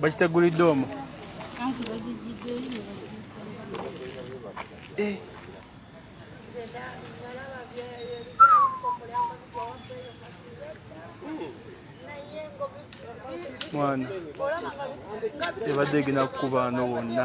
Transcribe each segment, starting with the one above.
bakitegulidde omu eh. mwana ebadde egenda kukubaano wonna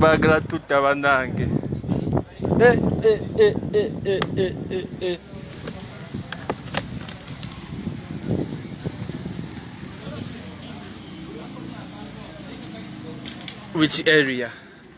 bagala tutta banange eh, eh, eh, which area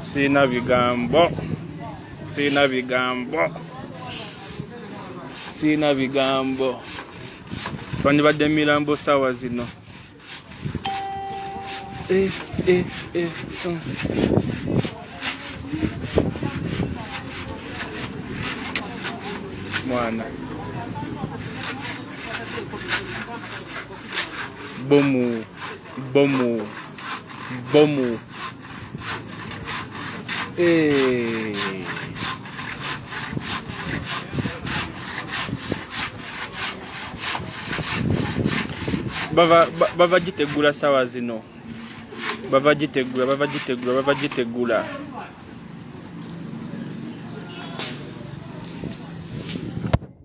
sirina bigambo sirina bigambo sirina bigambo twandibadde mirambo saawa zino eh, eh, eh, uh. mwana bomu Bomu. Bomu. Hey. bava ba- bava gitegula sawa zino bava gitegula bava gitegula bava gitegula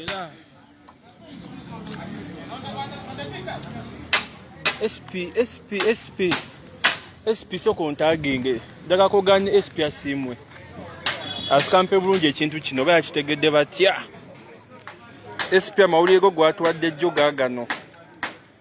era sp sp sp sp soko ntaginge njaga kuganya sp asiimwe asikampe bulungi ekintu kino oba yakitegedde batya sp amawulire go gwatuwadde jjo gagano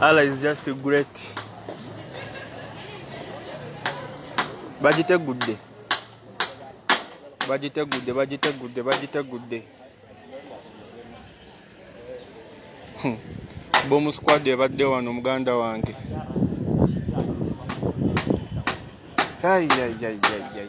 Allah is just great. Bagitegudde. Bagitegudde, bagitegudde, bagitegudde. Hmm. Bomu squad ebadde wano muganda wange. Ai ai ai ai ai.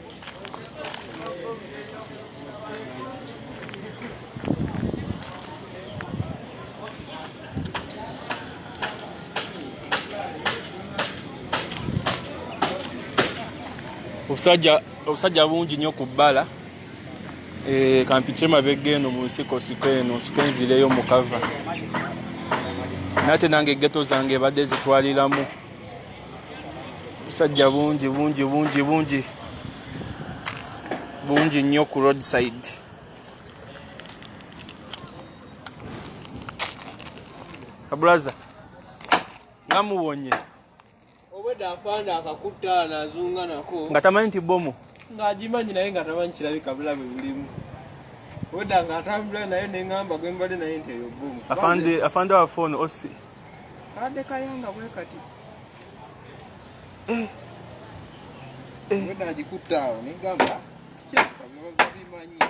obusajja obusajja bungi nnyo ku bbala eh, kampitire mabega eno mu nsiko siko eno nsiko enzireyo mu kava nate nange egeto zange ebadde zitwaliramu busajja bungi bungi bungi bungi bungi nnyo ku roadside abulaza nga muwonye obwedda afaanda akakutta nazunga nako nga tamanyi nti bomu ng'agimanyi naye nga tamanyi kirabika bulabe bulimu oda nga atambula naye neŋamba gwe mbadde naye nti eyo bomu afande afande wa phone osi kadde kayanga bwe kati eh. eh. weda agikutte awo negamba kikyakabibimanyii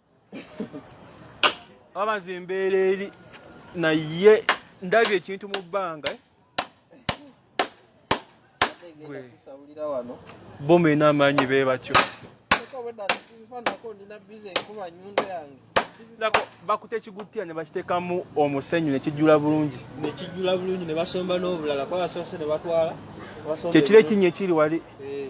aba nze embeera eri naye ndabye ekintu mu bbanga eh? boma ena amaanyi be batyo bakuta ekigutira ne bakiteekamu omusenyu ne kijjula bulungi ne kijjula bulungi ne basomba n'obulala kuba basoose ne batwala kyekiro ekinnya ekiri wali eh.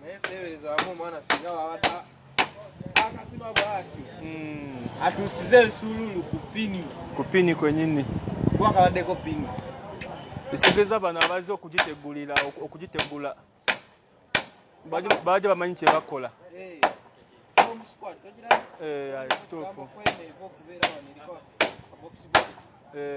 naye teeberezaamu omwana singa wawata akasima bwatyo hmm. atuusize ensuululu ku pini ku pini kwenyini kuba kabaddeko pini ekitegeeza bano abazze okugitegulira okugitegula baja bamanyi kyebakola eh, eh, kituufu eh.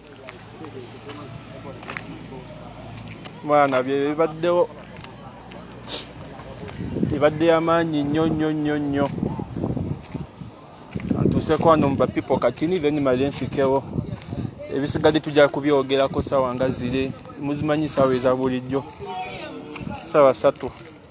mwana bye bibaddewo ebadde yamaanyi nnyo nnyo nnyo nnyo atuuseko wano mu bapipo katini then male nsikewo ebisigadde tujja kubyogerako sawa nga ziri muzimanyi sawa eza bulijjo sawa satu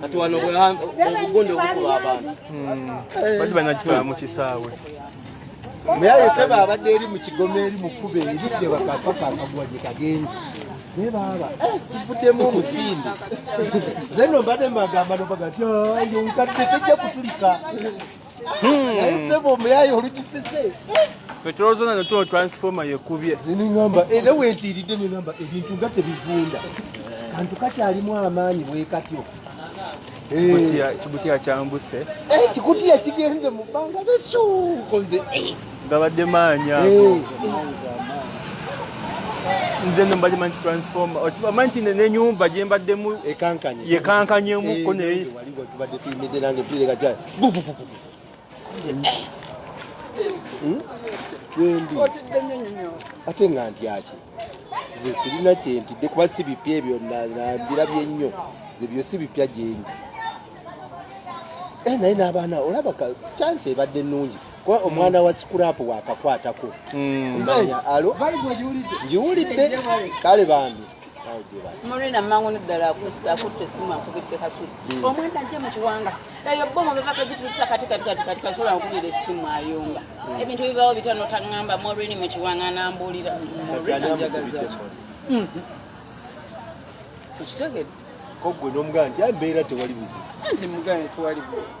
kati wano obugunde obukuba abantu hmm. bati banakitwala mu kisaawe muyaye teba abadde eri mu kigoma eri mukuba eridde bakakakakagwa gye kagenzi naye baaba eh, kivuddemu omusinde then obadde mbagamba nobaga ti ah, yo nkadde tejja kutulika Hmm. naye ssebo omuyaye olukisise fe tulowooza nano tuno transforma yekubye zenengamba era wentiiridde nengamba ebintu nga tebivunda kantu kakyalimu amaanyi bwekatyo kibutiya kyambuse kikutiya eh, kigenze mu bbanga nesukonze eh. gabadde maanyi ago eh. nze no mbadde manyi transforma omanyi nti nenyumba gyembaddemu yekankanyemu ko naye Hmm? wendi ate nga ntyaki nze sirina kyentidde kuba si bipya ebyo nambirabye nnyo ebyo si bipya gyendi eh, naye n'abaana olaba kyansi ebadde nnungi kuba omwana wa sikuraapu wakakwatako hmm. alo ngiwulidde kale bambi Murina mangu ni ddala akusita akutte essimu akubidde kasuli hmm. omwana ajje mu kiwanga eyo bomu beva kagitusa kati kati kati kati kasula nkubira essimu ayunga hmm. ebintu bibawo bitano taŋŋamba morini mu kiwanga anambuulira njagaza hmm. okitegedde koggwe n'omugana nti ambeera tewali buzibu nti mugana tewali buzibu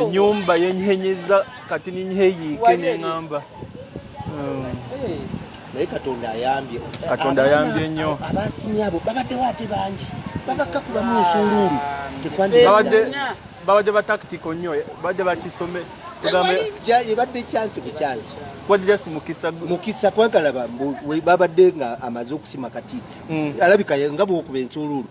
enyumba yenyenyeza kati ninyeyiike neŋamba hmm. eh. naye katonda ayambye katonda ayambye nnyo abasimye abo babaddewo ate bangi babakka kubamu nsuuluulu babadde bataktiko nnyo babadde bakisome ebadde kyansi ku kyansi mukisa kwagalaba babadde nga amaze okusima kati hmm. alabika nga bwokuba ensuuluulu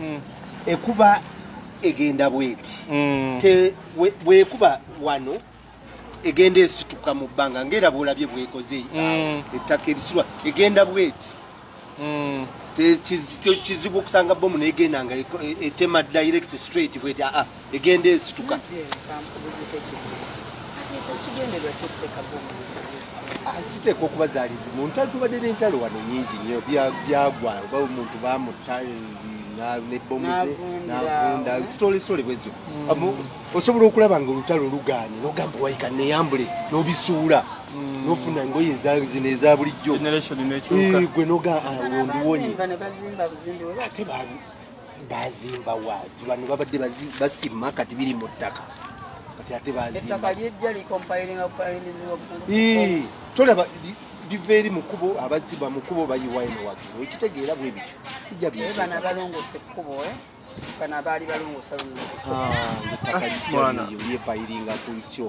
mm. ekuba egenda bweti mm. te bwekuba wano egenda esituka mu bbanga ngaera bwolabye bwekoze mm. ettaka erisirwa egenda bweti mm. kizibu okusanga bomu negenda nga e, e, etema direct straight bweti aa ah, ah. egenda esituka kiteekwa okuba zaali zimu ntalo tubadde n'entalo wano nyingi nnyo byagwa oba omuntu bamutta nebomuze navunda sitole sitole bwezo hmm. osobola okulaba nga olutalo luganye nogamba waika neyambule nobisuula hmm. nofuna engoye ezazino eza bulijjo gwe noga ah, ondiwonye ate bazimba waaki bano babadde basima kati biri mu ttaka kati ate bazimba tolaba liva eri mu kubo abazimba mu kubo bayiwa eno waggulu ekitegeera bwe bityo bijja byebana balongose ekkubo eh? bano abaali balongosa lulyo ah, epayiri nga ku kyo